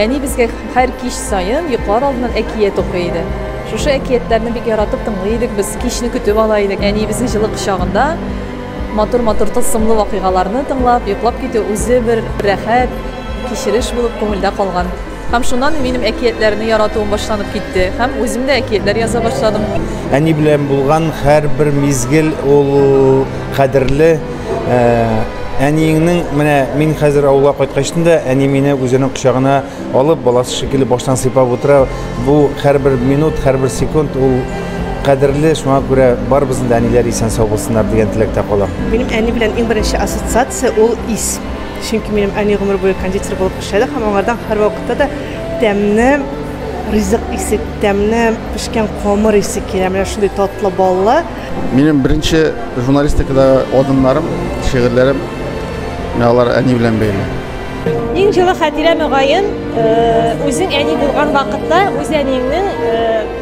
Әни безгә һәр кич саен йоклар алдыннан әкият укый иде. Шушы әкиятләрне бик яратып тыңлый идек без, кичне көтеп ала идек. Әниебезнең җылы кочагында матур-матур тылсымлы вакыйгаларны тыңлап, йоклап китү үзе бер рәхәт кичереш булып күңелдә калган. Һәм шуннан минем әкиятләрне яратуым башланып китте һәм үзем дә әкиятләр яза башладым. Әни белән булган һәрбер мизгел ул кадерле. Э, әниеңнең менә мин хәзер авылга кайткачтын да әни мине үзенең кочагына алып баласы шикелле баштан сыйпап утыра. Бу һәрбер минут, һәрбер секунд ул кадерле, шуңа күрә барыбызның да әниләр исән сау булсыннар дигән теләктә калам. Минем әни белән иң беренче ассоциация ул ис. Чөнки минем әни гомер буе кондитер булып Пешәләр һәм аңардан һәрвакытта да тәмле ризык исе, тәмле пешкән камыр исе килә. Менә шундый татлы баллы. Минем беренче журналистикадагы адымнарым, шигырьләрем менә алар әни белән бәйле. Иң җылы хатирә мөгаен, э, үзең әни булган вакытта үз әниеңнең э,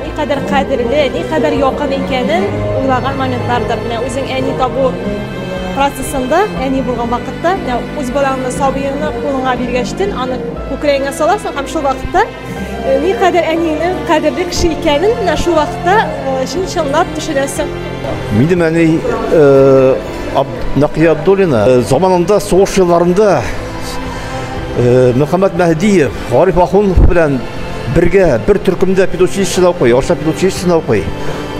никадәр кадерле, никадәр якын икәнен уйлаган моментлардыр. Менә үзең әни табу процессында әни булган вакытта үз балаңны сабыеңны кулыңа биргәчтен аны күкрәгеңә саласың һәм шул вакытта никадәр әниеңнең кадерле кеше икәнен менә шул вакытта чын чынлап төшенәсең минем әни нәкия абдуллина заманында сугыш елларында мөхәммәд мәһдиев гариф ахунов белән бергә бер төркемдә педучилищеда укый орча педучилищесында укый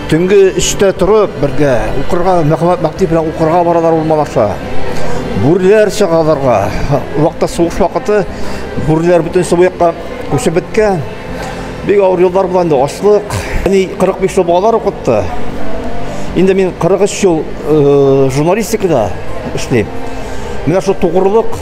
Төнге өчтә торып, бергә укырга, мәгълүмат мәктәбе белән укырга баралар урмалаша. Бүрләр чагаларга. Вакытта сугыш вакыты бүрләр бөтен су якка күчеп беткән. Бик авыр еллар була инде, ачлык. Әни 45 ел балалар укытты. Инде мин 43 ел э, журналистикада эшлим. Менә шул тугрылык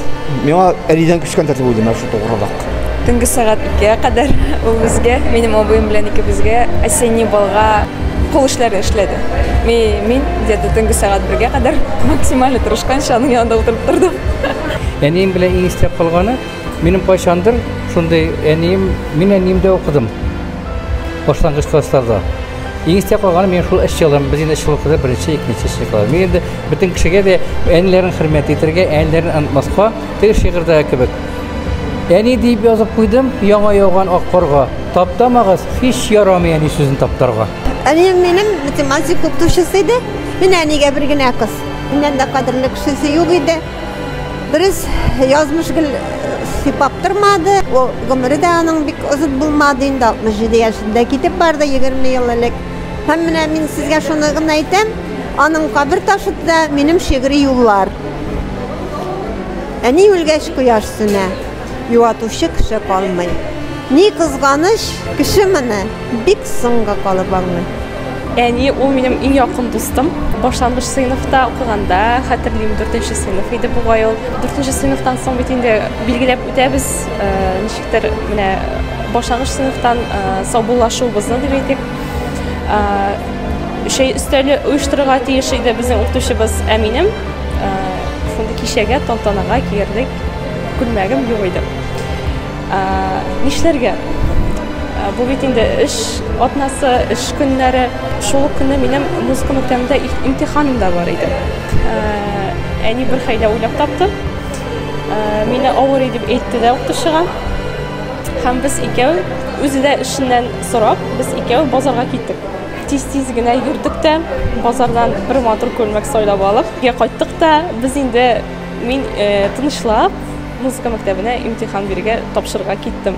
миңа әнидән күчкән тәртип булды, менә шул тугрылык. Төнге сәгать икегә кадәр ул безгә, минем абыем белән икебезгә осенний балга кул эшләре эшләде. Ми, мин где-то төнге сәгать бергә кадәр максимально тырышканча аның янында утырып тордым. Әнием белән иң истә калганы, минем кайчандыр шундый әнием, мин әниемдә укыдым. Башлангыч классларда. Иң истә калганы мин шул эшче елым, без инде эшче укыды, беренче, икенче эшче класс. Мин инде бөтен кешегә дә әниләрен хөрмәт итәргә, әниләрен онытмаска, теге шигырьдә кебек. Әни дип язып куйдым, яңа яуган ак корга. Таптамагыз, һич ярамый әни сүзен таптарга. Әнием минем математик укытучысы иде. Мин әнигә бер генә кыз. Миннән дә кадерле кешесе юк иде. Дөрес, язмыш гел э, сыйпап тормады. Ул гомере дә аның бик озын булмады инде 67 яшендә китеп барды 20 ел элек. Һәм менә мин сезгә шуны гына әйтәм, аның кабер ташында минем шигъри юллар. Әни үлгәч кояш сүнә, юатучы кеше калмый. Ни кызганыч, кеше моны бик соңга калып аңлый. Әни ул минем иң якын дустым. Башлангыч сыйныфта укыганда, хәтерлим, 4 нче сыйныф иде бугай ул. 4 нче сыйныфтан соң бит инде билгеләп үтәбез, э, ничектер менә башлангыч сыйныфтан э, саубуллашуыбызны дип әйтик. Э, Чәй өстәле оештырырга тиеш иде безнең укытучыбыз, ә минем Шундый кичәгә, тантанага килерлек күлмәгем юк иде. Нишләргә? Бу бит инде эш атнасы, эш көннәре. Шул ук көнне минем музыка мәктәбендә имтиханым да бар иде. Әни бер хәйлә уйлап тапты. Мине авырый дип әйтте дә укытучыга. Һәм без икәү, үзе дә эшеннән сорап, без икәү базарга киттек. Тиз-тиз генә йөрдек тә, базардан бер матур күлмәк сайлап алып, өйгә кайттык та, без инде мин тынычлап музыка мәктәбенә имтихан бирергә, тапшырырга киттем.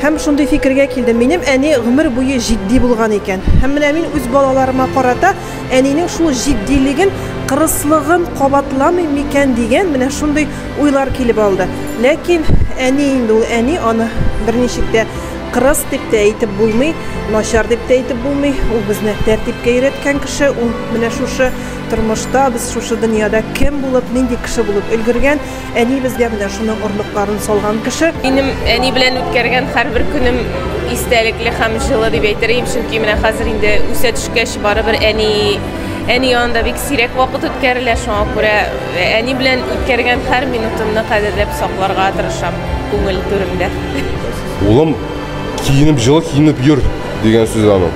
Һәм шундый фикергә килдем, минем әни гомер буе җитди булган икән. Һәм менә мин үз балаларыма карата әнинең шул җитдилеген, кырыслыгын кабатламыйм микән дигән менә шундый уйлар килеп алды. Ләкин әни инде ул әни, аны берничек тә Кырыс дип тә әйтеп булмый, начар дип тә әйтеп булмый. Ул безне тәртипкә өйрәткән кеше, ул менә шушы тормышта, без шушы дөньяда кем булып, нинди кеше булып өлгергән, әни безгә менә шуның орлыкларын салган кеше. Минем әни белән үткәргән һәрбер көнем истәлекле һәм җылы дип әйтерим, чөнки менә хәзер инде үсә төшкәч барыбер әни әни янында бик сирәк вакыт үткәрелә, шуңа күрә э, әни белән үткәргән һәр минутымны кадерләп сакларга тырышам күңел түремдә. Улым, киенеп җылы киенеп йөр дигән сүз аның.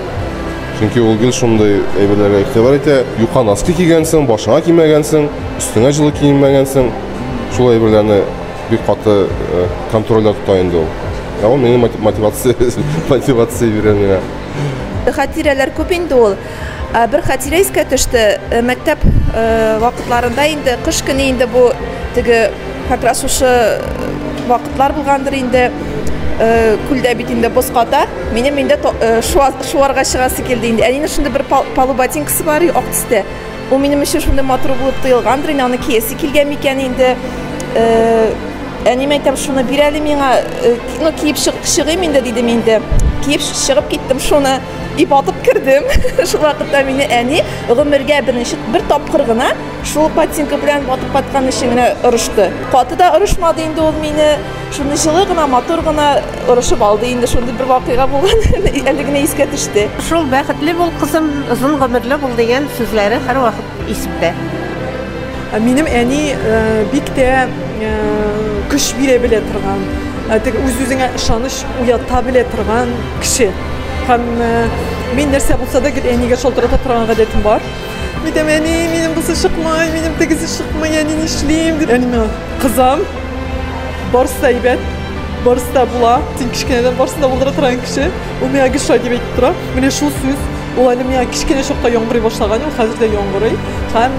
Чөнки ул гел шундый әйберләргә игътибар итә. Юка носки кигәнсең, башыңа кимәгәнсең, өстеңә җылы киенмәгәнсең. Шул әйберләрне бик каты э, контрольдә тота инде ул. Ә ул миңа мотивация, мотивация бирә миңа. Хатирәләр күп инде ул. Ә, Бер хәтирә искә төште. Э, Мәктәп э, вакытларында инде кыш көне инде бу теге как раз шушы э, вакытлар булгандыр инде. Э, Күлдә бит инде боз ката. Минем инде то- э, шуа- шуарга чыгасы килде инде. Әнинең шундый бер пал- полу ботинкасы бар, ак төстә. Ул минем өчен шундый матур булып тоелгандыр инде, аны киясе килгән микән инде. Э, Әнием әйтәм, шуны бир әле миңа, э, ки- ну, киеп чыгып чыгыйм инде, дидем инде. Киеп чыгып киттем шуны. И батып кердем. Шул вакытта мине әни гомергә беренче бер тапкыр гына шул ботинка белән батып каткан өчен генә орышты. Каты да орышмады инде ул мине. Шуны җылы гына, матур гына орышып алды инде. Шундый бер вакыйга булган. Әле генә искә төште. Шул бәхетле бул кызым, озын гомерле бул дигән сүзләре һәр вакыт исемдә. Минем әни э, бик тә э, көч бирә белә торган, э, теге үз-үзеңә ышаныч уята белә торган кеше. Һәм мин нәрсә булса да гел әнигә шалтырата торган гадәтем бар. Әйтәм, әни, минем бусы чыкмай, минем тегесе чыкмай, әни нишлим? Дип, әни миңа, кызым, барысы да әйбәт, барысы да була. Син кечкенәдән барысын да булдыра торган кеше. Ул миңа гел шулай дип әйтеп тора. Менә шул сүз ул әле миңа кечкенә чакта яңгырый башлаган, ул хәзер дә яңгырый. Һәм